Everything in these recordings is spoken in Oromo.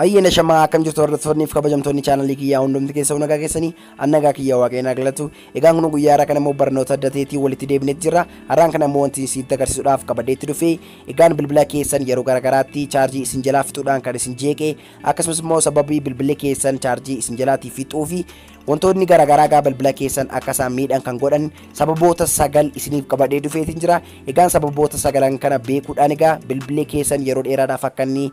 Ayyeena shamaa akkam jirtu hordoftoonniif kabajamtoonni chaanalii kiyyaa hundumti keessaa nagaa keessanii annagaa kiyyaa waaqayyoon agalatu egaan kun guyyaa irraa kan immoo barnoota adda ta'eetiin walitti deebinetti jirra har'aan kana immoo wanti isin agarsiisuudhaaf qabadeetti dhufe egaan bilbila keessan yeroo garaagaraatti chaarjii isin jalaa fixuudhaan kan isin jeeqe akkasumas immoo sababii bilbilli keessan chaarjii isin jalaatii fixuu fi wantoonni garaagaraa gaa bilbila keessan akka isaan miidhan kan godhan sababoota sagal isiniif qabadee dhufeetiin jira egaan sababoota sagalan kana beekuudhaan egaa bilbilli keessan yeroo dheeraadhaaf akka inni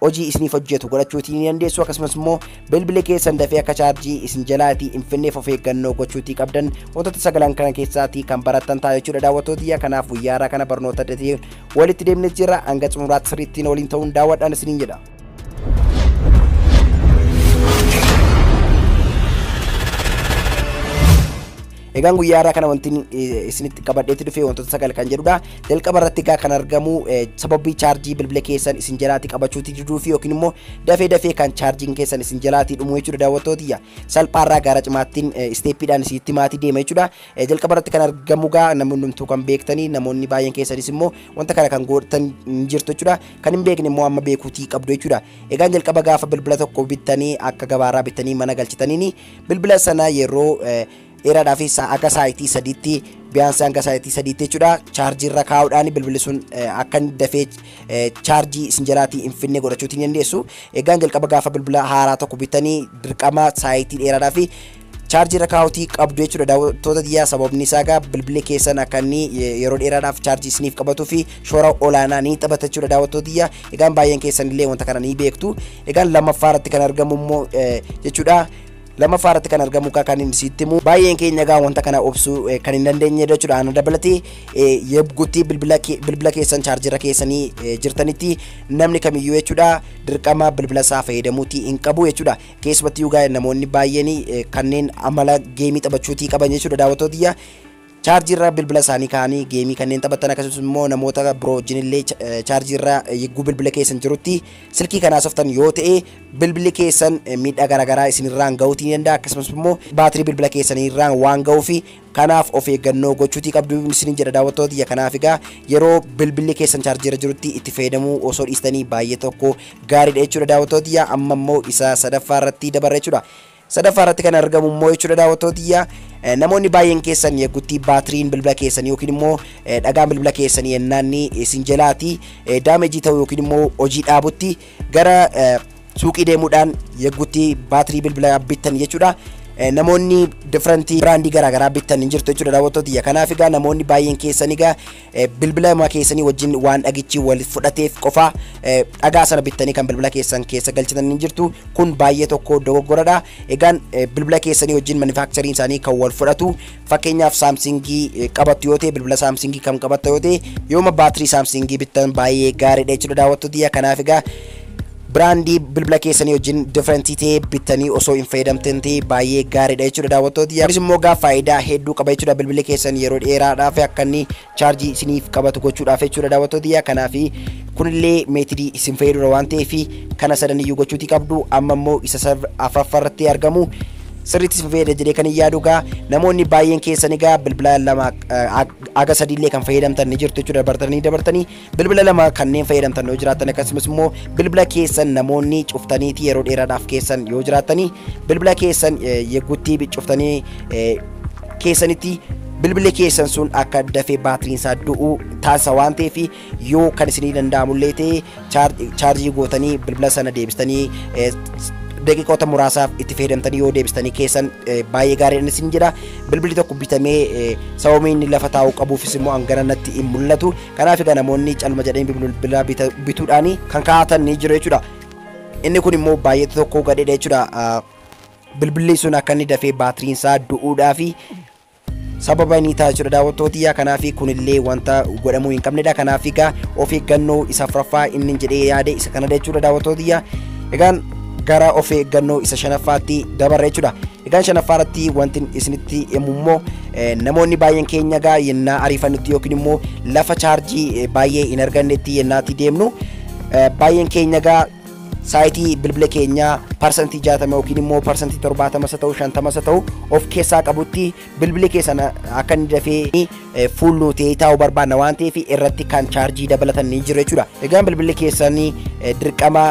hojii isiniif hojjetu godhachuutii ni dandeessu akkasumas immoo bilbili keessan dafee akka chaarjii isin jalaatii hin finneef of eeggannoo gochuutii qabdan wantoota sagalan kana keessaatii kan barattan ta'a jechuudha daawwattootiyya kanaaf guyyaa irraa kana barnoota addatee walitti deemnee jirra hanga xumuraatti sirriittiin waliin ta'uun daawwadhaan isiniin jedha. Egaan guyyaa irraa kana wanti isinitti qabadheetti dhufe wantoota sagal kan jedhudha. Jalqaba irratti egaa kan argamu sababii chaarjii bilbila keessan isin jalaati qabachuuti diduu fi yookiin immoo dafee dafee kan chaarjiin keessan isin jalaati dhumu jechuudha daawwattootiyya. Salphaa irraa gara cimaattiin isteeppiidhaan isitti maatii deema jechuudha. Jalqaba irratti kan argamu egaa namoonni hundumtuu kan beektanii namoonni baay'een keessanis immoo wanta kana kan gootan hin jirtu jechuudha. Kan hin beekne immoo amma beekuutii qabdu jechuudha. Egaan jalqaba gaafa bilbila tokko bittanii akka gabaarraa bittanii mana galchitaniini Bilbila sana yeroo dheeraadhaa fi akka saayitii sadiitti biyaansii hanga saayitii sadiitti jechuudha chaarjii irra kaa'uudhaan bilbilli sun akka inni dafee chaarjii isin jalaatii hin finne godhachuutti ni dandeessu. Egaan jalqaba gaafa bilbila haaraa tokko bitanii dirqama saayitii dheeraadhaa fi chaarjii irra kaa'uutii qabdu jechuudha daawwattoota biyyaa sababni isaa egaa bilbilli keessan akka inni yeroo dheeraadhaaf chaarjii isiniif qabatuu fi shoora olaanaa ni taphata jechuudha daawwattoota biyyaa egaan baay'een keessan illee wanta kana ni beektu. Egaan lammaffaa irratti kan argamu immoo jechuudha. Lammaffaa irratti kan argamu egaa kan inni sitti himu baay'een keenya egaa wanta kana obsuu kan hin dandeenye jechuudha. Ana dabalatee yabgutti bilbila bilbila keessan chaarjera keessanii jirtanitti namni kamiyyuu jechuudha dirqama bilbila isaa fayyadamuutii hin qabu jechuudha. Keessumattuu egaa namoonni baay'een kanneen amala geemii taphachuutii qaban jechuudha daawwattootiyya. Chaarjii irra bilbila isaanii kaa'anii geemii kanneen taphatan akkasumas immoo namoota biroo wajjin illee chaarjii irra yogguu bilbila keessan jirutti silkii kan haasoftan yoo ta'e bilbilli keessan miidhaa garaagaraa isin irraan ga'uutii ni danda'a akkasumas immoo baatirii bilbila keessanii irraan waan ga'uu fi kanaaf of eeggannoo gochuutii qabdu isin jedha daawwattoota tiyya kanaaf egaa yeroo bilbilli keessan chaarjii irra jirutti itti fayyadamuu osoo dhiistanii baay'ee tokko gaariidha jechuudha daawwattoota tiyya amma immoo isa sadaffaa irratti dabarra jechuudha. Sadaffaa irratti kan argamu immoo jechuudha daawwattoota tiyya eh, namoonni baay'een keessan yeggutti baatiriin bilbila keessanii yookiin immoo eh, dhagaan bilbila keessanii yennaanni isin jalaati eh, daamejii ta'u yookiin immoo hojii dhaabutti gara eh, suuqii deemuudhaan yeggutti baatirii bilbila bittan jechuudha. Eh, namoonni different biraandii garaagaraa bittan hin jirtu jechuudha daawwattoota tiyya kanaaf egaa namoonni baay'een keessan egaa bilbila ma keessanii wajjin waan dhagichi wal fudhateef qofa dhagaa sana bittanii kan bilbila keessan keessa galchitan ni jirtu kun baay'ee tokko dogoggoradha egaan bilbila keessanii wajjin manufaaktariin isaanii kan wal fudhatu fakkeenyaaf saamsingii qabattu yoo ta'e bilbila saamsingii kan qabatta yoo ta'e yooma baatirii saamsingii bittan baay'ee gaariidha jechuudha daawwattoota kanaaf egaa Biraandii bilbila keessanii wajjin different ta'e bittanii osoo hin fayyadamtin ta'e baay'ee gaariidha jechuudha daawwattoota kiyya. Kunis immoo egaa faayidaa hedduu qaba jechuudha bilbilli keessan yeroo dheeraadhaaf akka inni chaarjii isiniif qabatu gochuudhaaf jechuudha daawwattoota kiyya. Kanaaf kunillee meetidii isin fayyadudha waan ta'eef kana sadan iyyuu gochuutii qabdu. Amma immoo isa serve afraffarratti argamu sirriitti isin fayyada jedhee kan hin yaadu egaa namoonni baay'een keessan egaa bilbila lama haga sadiillee kan fayyadamtan ni jirtu jechuudha dabartanii dabartanii Bilbila lama kanneen fayyadamtan yoo jiraattan akkasumas immoo bilbila keessan namoonni cuftaniiti yeroo dheeraadhaaf keessan yoo jiraattanii bilbila keessan yeggutti cuftanii keessanitti bilbilli keessan sun akka dafee baatiriin isaa du'u taasisa waan ta'eef yoo kan isinii danda'amullee ta'e chaarjii gootanii bilbila sana deebistanii daqiiqota muraasaaf itti fayyadamtanii yoo deebistanii keessan baay'ee gaariidhaan isin jedha bilbilli tokko bitamee sababni inni lafa taa'uu qabuufis immoo hanganatti hin mul'atu Kanaaf egaa namoonni calma jedhanii bilbila bita- bituudhaan kan kaa'atan ni jiru jechuudha. Inni kun immoo baay'eetu tokko gadheedha jechuudha. Ah, Bilbilli sun akka inni dafee baatiriin isaa du'uudhaa fi sababa inni ta'a jechuudha daawwattootiyyaa kanaaf kunillee wanta godhamuu hin qabnedha kanaaf egaa of eeggannoo isa afuraffaa inni jedhee yaade isa kanadha jechuudha daawwattootiyyaa egaan gara of eeggannoo isa shanaffaatti dabarra jechuudha egaan shanaffaa irratti wanti isinitti himu immoo Namoonni baay'een keenya egaa yennaa ariifannutti yookiin immoo lafa chaarjii baay'ee hin argannetti yennaatti deemnu baay'een keenya egaa saayitii bilbila keenyaa parsantii 60 yookiin immoo parsantii 70 isa ta'u 50 isa ta'u of keessaa qabutti bilbili keessan akka inni dafee fuul nuutee taa'uu barbaanna waan ta'eef irratti kan chaarjii dabalatan ni jiru jechuudha. Egaan bilbilli keessan dirqama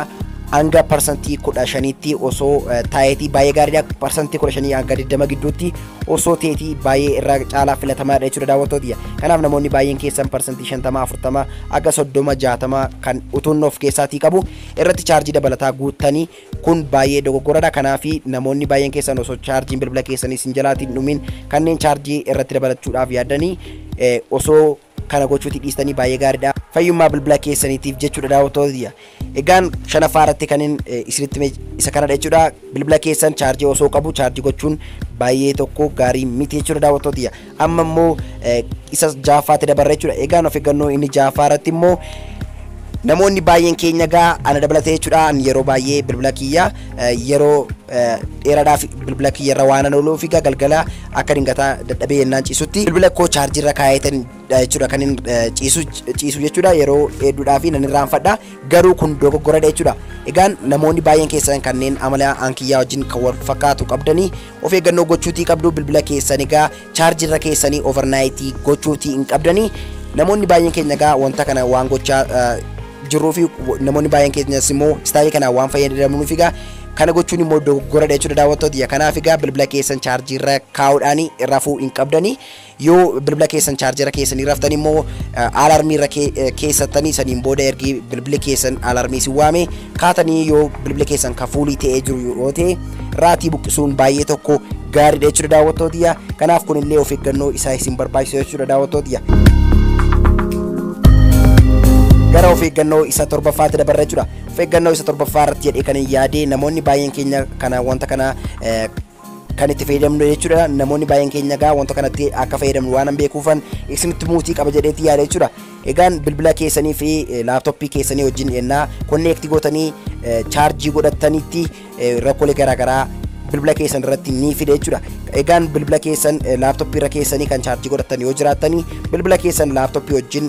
hanga parsantii kudha shaniitti osoo taa'eetii baay'ee gaariidha. Parsantii kudha shanii hanga digdama gidduutti osoo teetii baay'ee irra caalaa filatamaadha jechuudha daawwattootiyya. Kanaaf namoonni baay'een keessan parsantii 50, 40 akka 30, 60 kan utuun of keessaatii qabu irratti chaarjii dabalataa guuttanii kun baay'ee dogoggoradha. Kanaaf namoonni baay'een keessan osoo chaarjiin bilbila keessanii isin jalaatiin dhumiin kanneen chaarjii irratti dabalachuudhaaf yaadanii osoo Kana gochuuti dhiistanii baay'ee gaariidha. Fayyummaa bilbila keessaniitiif jechuudha daawwattoota tiyya. Egaan shanaffaa irratti kanin isinitti hime isa kanadha jechuudha. Bilbila keessan chaarjii osoo qabu chaarjii gochuun baay'ee tokko gaarii miti jechuudha daawwattoota tiyya. Amma immoo isa jahaffaatti dabarra jechuudha. Egaan of eeggannoo inni jahaffaa irratti immoo namoonni baay'een keenya gaa ana dabalatee jechuudha yeroo baay'ee bilbila kiyya yeroo dheeraadhaaf bilbila kiyya irra waan ooluu fi galgala akka dingataa dadhabee yennaan ciisutti bilbila koo chaarjii irra kaa'eetan jechuudha kan hin ciisu ciisu jechuudha yeroo hedduudhaa fi nan irraanfadha garuu kun dogoggoradha jechuudha egaan namoonni baay'een keessan kanneen amala ankiyyaa wajjin kan wal fakkaatu qabdanii of eeggannoo gochuutii qabdu bilbila keessan egaa Charge irra keessanii over night gochuutii hin qabdanii namoonni baay'een keenya gaa wanta kana waan gochaa jirruu fi namoonni baay'een keenyas immoo istaayii kana waan fayyadamnuuf egaa kana gochuun immoo dogoggora jechuudha daawwattoota ya kanaaf egaa bilbila keessan chaarjii irra kaa'uudhaan rafuu hin qabdanii yoo bilbila keessan chaarjii irra keessanii raftan immoo alarmii irra keessattanii saniin booda ergi bilbili keessan alarmii si waame kaatanii yoo bilbila keessan ka fuulii ta'ee jiru yoo ta'e raatii buqqisuun baay'ee tokko gaariidha jechuudha daawwattootiyya kanaaf kunillee of eeggannoo isaa isin barbaachisa jechuudha daawwattootiyya. gara of eeggannoo isa torbaffaatti dabarra jechuudha. Of eeggannoo isa torbaffaa irratti jedhee kan hin yaade namoonni baay'een keenya kana wanta kana kan itti fayyadamnu jechuudha namoonni baay'een keenya egaa wanta kanatti akka fayyadamnu waan hin beekuufan isinitti muutii qaba jedheetti yaada jechuudha egaan bilbila keessanii fi laaptooppii keessanii wajjin ennaa konneekti gootanii chaarjii godhattanitti rakkoolee garaagaraa bilbila keessan irratti ni fide jechuudha egaan bilbila keessan laaptooppii irra keessanii kan chaarjii godhattan yoo jiraattanii bilbila keessan laaptooppii wajjin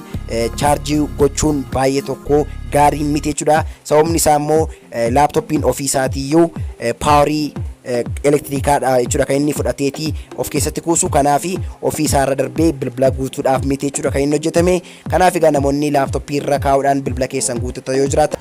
chaarjii gochuun baay'ee tokko gaarii miti jechuudha sababni isaa immoo Laaptooppiin ofii isaatiiyyuu paawarii elektiriikaa dha jechuudha kan inni fudhateeti of keessatti kuusu. Kanaaf ofii isaa irra darbee bilbila guutuudhaaf miti jechuudha kan inni hojjetame. Kanaaf egaa namoonni laaptooppii irra kaa'uudhaan bilbila keessan guuttatan yoo jiraatan